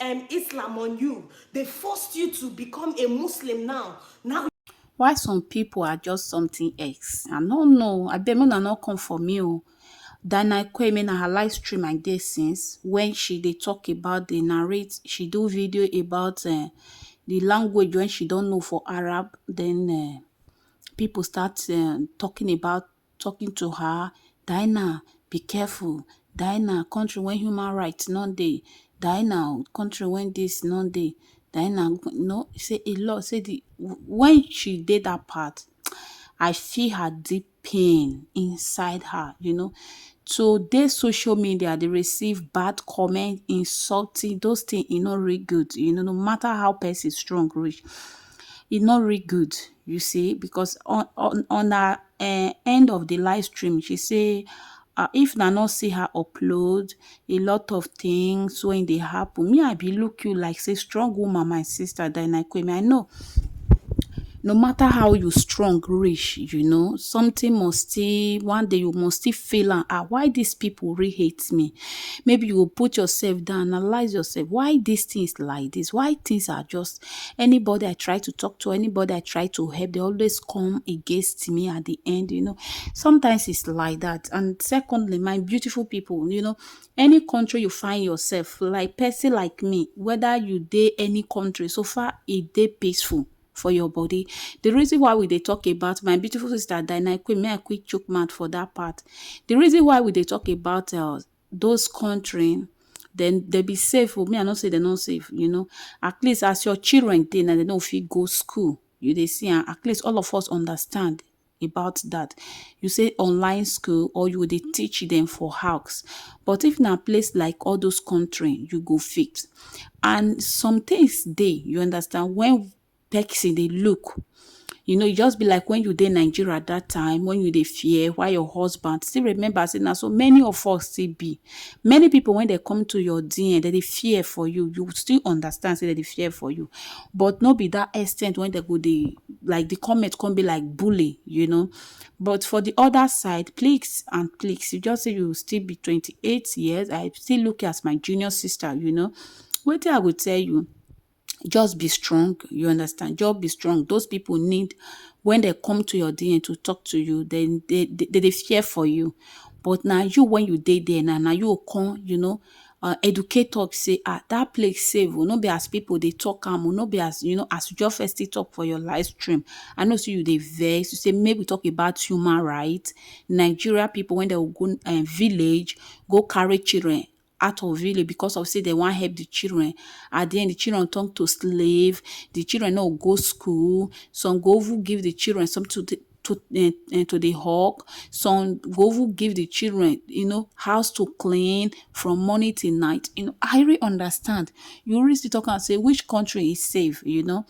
um Islam on you. They forced you to become a Muslim now. Now why some people are just something else. I don't know. I bet me not come for me. Oh. Dana Kwame na her live stream I dey since when she they talk about the narrate she do video about uh, the language when she don't know for Arab then uh, people start uh, talking about talking to her Diana be careful Diana country when human rights no dey Diana country when this no dey Diana no say a lot say the when she dey that part I feel her deep pain inside her you know to dey social media dey receive bad comment insulting those things e no really good you know no matter how person strong reach e no really good you see because on on on her uh, end of the live stream she say uh, if na not see her upload a lot of things when they happen me i be look you like say strong woman my sister diana kwemi i know no matter how you strong reach you know something must still one day you must still feel and ah why these people really hate me maybe you will put yourself down analyze yourself why these things like this why things are just Anybody I try to talk to, anybody I try to help, they always come against me at the end, you know. Sometimes it's like that. And secondly, my beautiful people, you know, any country you find yourself, like person like me, whether you day any country, so far it day peaceful for your body. The reason why we they talk about my beautiful sister Dinah Queen, may I quick choke mad for that part. The reason why we they talk about uh, those country dem dem be safe o, me I no say dem no safe you know at least as your children dey now dem no fit go school you dey see am at least all of us understand about that you say online school or you go dey teach dem for house but if na place like all those country you go fit and somethings dey you understand when person dey look you know e just be like when you dey nigeria that time when you dey fear why your husband still remember say na so many of us still be many people when they come to your dm they dey fear for you you still understand say they dey fear for you but no be that extent when they go dey like the comment come be like bully you know but for the other side please and please you just say you still be 28 years i still look you as my junior sister you know wetin i go tell you just be strong you understand just be strong those people need when they come to your dna to talk to you they they they, they fear for you but now you when you did there now now you come you know uh, educate talk say ah that place save will oh, not be as people they talk am will oh, not be as you know as you just first talk for your live stream i know see you they vex you say maybe talk about human rights nigeria people when they go uh, village go carry children out of village because of say they want help the children at the end the children turn to slave the children no go school some go even give the children some to to uh, uh, to the hawk some go even give the children you know house to clean from morning till night you know i really understand you always talk and say which country is safe you know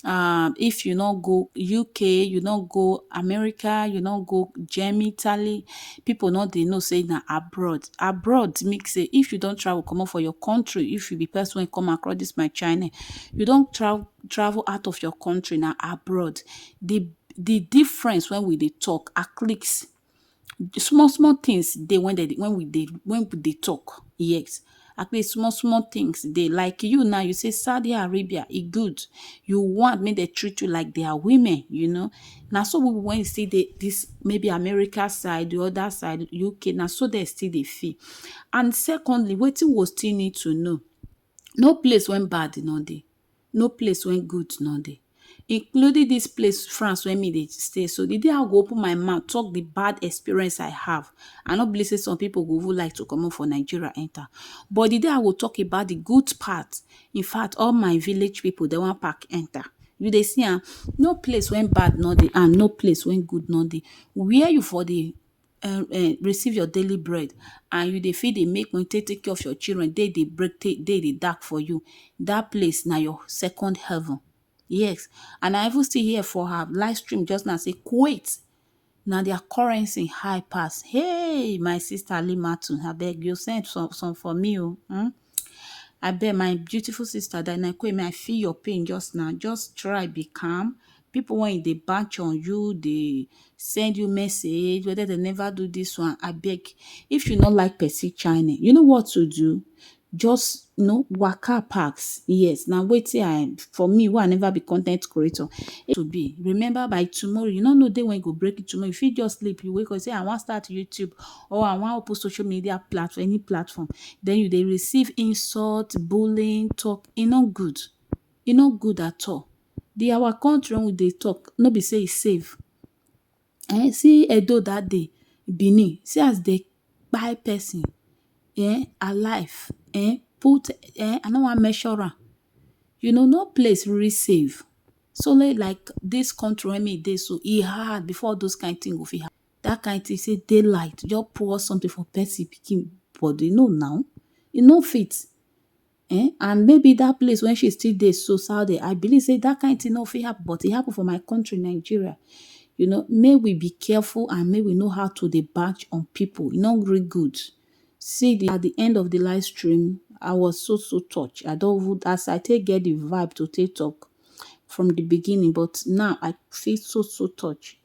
um if you no go uk you no go america you no go germany italy people no dey know say na abroad abroad mean say if you don travel comot for your country if you be person wey come across this my channel you don tra travel out of your country na abroad the the difference when we dey talk aclics small small tins dey wen dem dey wen we dey wen we dey talk yes at least small small tins dey like you now you say Saudi Arabia e good you want make dem treat you like dia women you know na so we wen still dey dis maybe America side di oda side UK na so dem still dey feel and secondly wetin we still need to know no place wen bad no dey. no place wey goat no dey including this place France wey me dey stay so the day I go open my mouth talk the bad experience I have I no believe say some people go even like to come out for Nigeria enter but the day I go talk about the good part in fact all my village people they wan pack enter you dey see am no place wey bad no dey and no place wey good no dey where you for dey um um receive your daily bread and you dey fit dey make money take take care of your children, day dey break, day dey dark for you, dat place na your second heaven. Yes, and I even still hear for her live stream just now sey Kuwait na their currency high pass. Hey! My sister Alimatu, abeg you send some some for me o um. Abeg my beautiful sister Dynakwe, may I feel your pain just now. Just try be calm. People when they batch on you, they send you message, whether they never do this one, I beg. If you not like Percy China, you know what to do. Just you know, waka packs. Yes, now wait till I for me, who I never be content creator. It will be. Remember by tomorrow, you don't know day when you go break it tomorrow. If you just sleep, you wake up, say I want start YouTube or I wan open social media platform, any platform, then you dey receive insult, bullying, talk, e no good. E no good at all. The our country wey we dey talk, no be say e safe. um See Edo dat day, Benin, see as dey kpai pesin um alive um put um I no wan mention am. You know, no place really safe. So like dis country wey me dey so, e hard before all those kain tin go fit happen. that kind thing say daylight just pour something for person pikin body no now e no fit eh and maybe that place when she still dey so saudi i believe say that kind thing no fit happen but e happen for my country nigeria you know may we be careful and may we know how to dey batch on people e no really good see the at the end of the live stream i was so so touched i don't even as i take get the vibe to take talk from the beginning but now i feel so so touched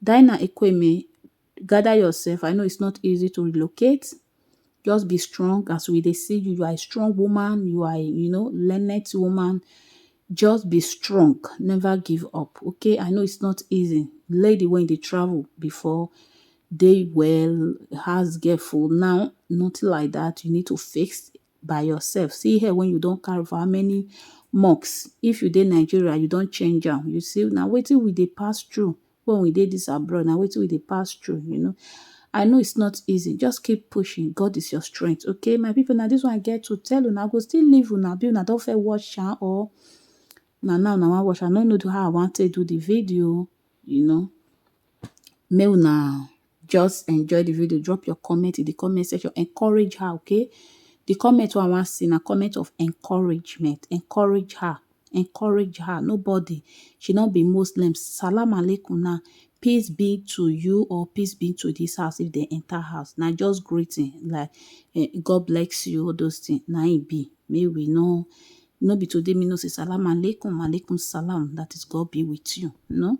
Dinah Ekweme gather yourself I know it's not easy to relocate just be strong as we dey see you you are a strong woman you are a you know learned woman just be strong never give up okay I know it's not easy lady wey dey travel before dey well has girlful now nothing like that you need to face by yourself. See hair when you don carry for how many months. If you dey Nigeria, you don change am. You see, na wetin we dey pass through when we dey this abroad. Na wetin we dey pass through, you know. I know it's not easy. Just keep pushing. God is your strength. Okay, my people, now this one I get to tell una. I go still leave una. Be una don fair watch am or na now una wan watch. I no know how I wan take do the video, you know. Make una Just enjoy the video, drop your comment in the comment section, encourage her, okay? The comment wey I wan see na comment of encouragement, encourage her, encourage her, nobody, she no be Muslim, salam alaikum na, peace be to you or peace be to this house if dem enter house, na just greeting like eh, God bless you, all those things, na im e be, make we no, no be today me no say salam alaikum, alaikum salam, that is God be with you, no?